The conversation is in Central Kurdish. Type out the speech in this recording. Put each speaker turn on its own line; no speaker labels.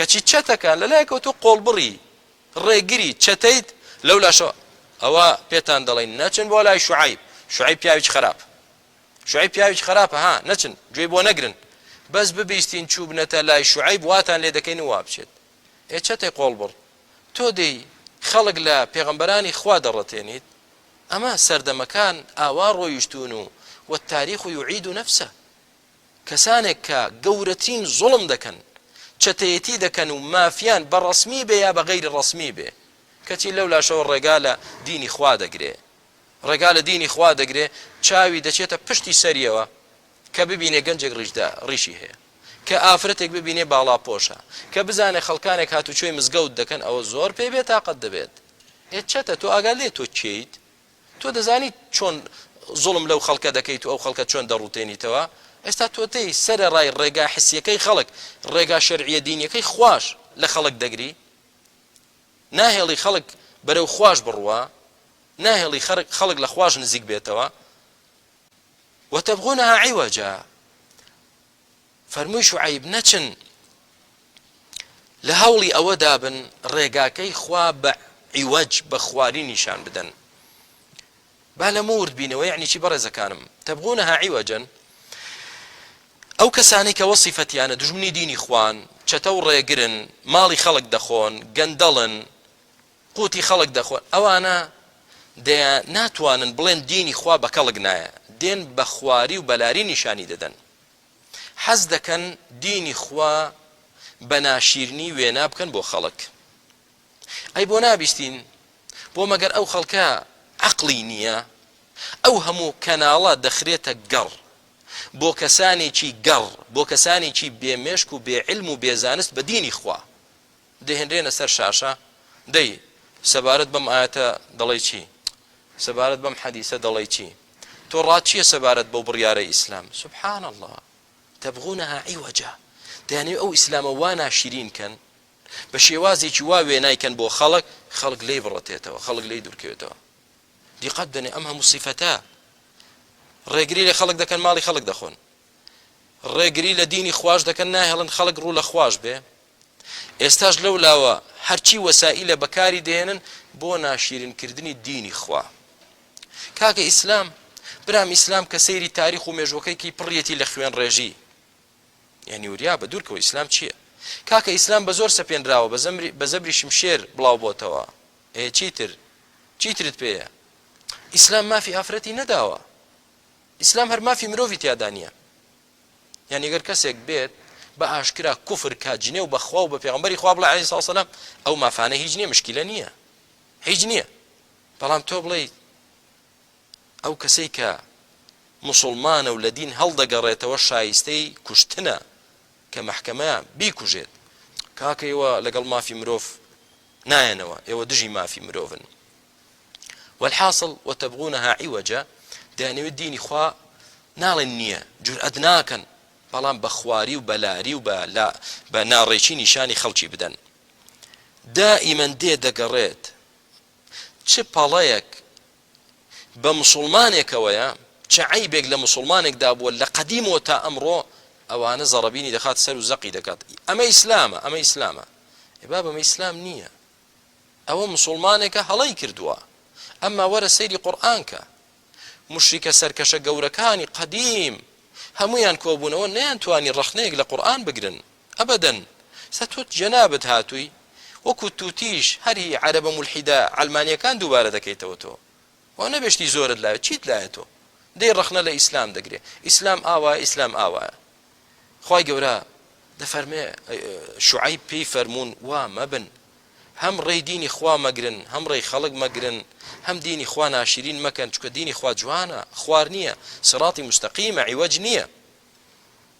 کەچی چەتەکان لەلایەکەوە تۆ قۆڵبڕی، ڕێگری، چەتەیت، لەولاشەوە ئەوە پێتان دەڵێین نەچن بۆ لای شوعەیب، شوعەیب پیاوێکی خەراپ، شوعەیب پیاوێکی خەراپە ها نەچن گوێی بۆ نەگرن، بەس ببیستین چووبنەتە لای شوعەیب واتان لێ دەکەین و وابچێت، ئێ چەتەی قۆڵبڕ تۆ دێی خەڵک لە پێغەمبەرانی خوا دەڕەتێنیت، ئەمە سەردەمەکان ئاوا ڕۆیشتوون و والتاریخ یعید نفسە. کەسانێک کە گەورەترین زوڵم دەکەن، چەتەیەتی دەکەن و مافیان بە ڕەسمی بێ یا بە غەیری ڕەسمی بێ، کەچی لەو لاشەوە ڕێگا لە دینی خوا دەگرێ، ڕێگا لە دینی خوا دەگرێ، چاوی دەچێتە پشتی سەریەوە کە ببینێ گەنجێک ڕیشدار، ڕیشی هەیە، کە ئافرەتێک ببینێ باڵاپۆشە، کە بزانێ خەڵکانێک هاتوچۆی مزگەوت دەکەن، ئەوە زۆر پێی بێتاقەت دەبێت. ئێ چەتە تۆ ئاگات لێیە تۆ کێیت؟ تۆ دەزانیت چۆن زوڵم لەو خەڵکە دەکەیت و ئەو خەڵکە چۆن دەڕوتێنیتەوە؟ ئێستا تۆتەی سەرەڕای ڕێگا حسیەکەی خەڵک، ڕێگا شەرعیە دینیەکەی خواش لە خەڵک دەگری؟ ناهێڵی خەڵک بەرەو خواش بڕوا؟ ناهێڵی خەڵک لە خواش نزیک بێتەوە؟ وتبغونها عوجا. فەرمووی شوعەیب، نەچن لە هەوڵی ئەوەدا بن ڕێگاکەی خوا بە عیوەج، بە خواری نیشان بدەن. با لەمە ورد بینەوە یەعنی چی بەڕێزەکانم؟ تبغونها عوجا ئەو کەسانەی کە وەسیفەتیانە دوژمنی دینی خوان، چەتە و ڕێگرن، ماڵی خەڵک دەخۆن، گەندەڵن، قوتی خەڵک دەخۆن، ئەوانە دەیا ناتوانن بڵێن دینی خوا بە کەڵک نایە، دێن بە خواری و بەلاری نیشانی دەدەن. حەز دەکەن دینی خوا بە ناشیرنی وێنا بکەن بۆ خەڵک ئەی بۆ نابیستین بۆ مەگەر ئەو خەڵکە عەقڵی نییە ئەو هەموو کەناڵە دەخرێتە گەڕ بۆ کەسانێکی گەڕ بۆ کەسانێکی بێ مێشک و بێ علم و بێ زانست بە دینی خوا دەهێنرێنە سەر شاشە، دەی سەبارەت بەم ئایەتە دەڵێی چی؟ سەبارەت بەم حەدیسە دەڵێی چی؟ تۆ ڕات چییە سەبارەت بەو بڕیارەی ئیسلام؟ سبحان اللە تبغونها عوجا دەیانەوێت ئەو ئیسلامە وا ناشرین کەن، بە شێوازێکی وا وێنای کەن بۆ خەڵک، خەڵک لێی بڕتێتەوە، خەڵک لێی دوورکەوێتەوە. دیقەت بدەنێ ئەم هەموو سیفەتە ڕێگری لە خەڵک دەکەن، ماڵی خەڵک دەخۆن. ڕێگری لە دینی خواش دەکەن ناهێڵن خەڵک ڕوو لە خواش بێ ئێستاش لەو لاوە هەرچی وەسائیلە بەکاری دێنن بۆ ناشیرن کردنی دینی خوا کاکە ئیسلام برام ئیسلام کە سەیری تاریخ و مێژوەکەیکی پڕیەتی لە خوێن ڕێژی یعنی وریا بە دوورکەوە ئیسلام چییە کاکە ئیسلام بە زۆر سەپێنراوە بە زەمری بە زەبری شمشێر بڵاو بۆتەوە ئێ چیتر چیترت پێیە ئیسلام مافی ئافرەتی نەداوە ئیسلام هەر مافی مرۆڤی تیادا نیە یانی گەر کەسێک بێت بە ئاشکرا کوفر کا جنێو بە خوا و بە پێغەمبەری خوا بڵێ عەلەیهی سەلام ئەو مافانە هیچ نیە مشکیلە نیە هیچ نیە بەڵام تۆ بڵێ ئەو کەسەی کە مسلمانە و لە دین هەڵدەگەڕێتەوە شایستەی کوشتنە کە محکەمە بیکوژێت کاکەیەوە لەگەڵ مافی مرۆڤ نایەنەوە ئێوە دژی مافی مرۆڤن والحاصل وتبغونها عوجا دەیانەوێت دینی خوا ناڵێن نییە جورئەت ناکەن بەڵام بە خواری و بە لاری و بە ناڕێکی نیشانی خەڵکی بدەن دائیمەن دێ دەگەڕێت چ پەڵەیەک بە مسوڵمانێکەوەیە چ عەیبێک لە مسوڵمانێکدا بووە لە قەدیمەوە تا ئەمڕۆ ئەوانە زەڕەبینی دەخات سەر و زەقی دەکات ئەمە ئیسلامە ئەمە ئیسلامە ئێ بابە ئەمە ئیسلام نییە ئەوە موسوڵمانێکە هەڵەی کردووە ئەمما وەرە سەیری قورئان کە موشریکە سەرکەشە گەورەکانی قەدیم هەموویان کۆبوونەوە نەیان توانی ڕەخنەیەک لە قورئان بگرن ئەبەدەن سە تۆ جەنابت هاتووی وەکو توتیش هەر هی عەرەبە مولحیدە عەلمانیەکان دووبارە دەکەیتەوە تۆ وا نەبێ شتی زۆرت لایە چیت لایە تۆ دەی ڕەخنە لە ئیسلام دەگرێ ئیسلام ئاوایە ئیسلام ئاوایە خوای گەورە دەفەرمێ شوعەیب پێی فەرموون وا مەبن هەم ڕێی دینی خوا مەگرن هەم ڕێی خەڵک مەگرن هەم دینی خوا ناشرین مەکەن چکە دینی خوا جوانە خوار نییە سڕاتی مستەقیمە عیوەج نییە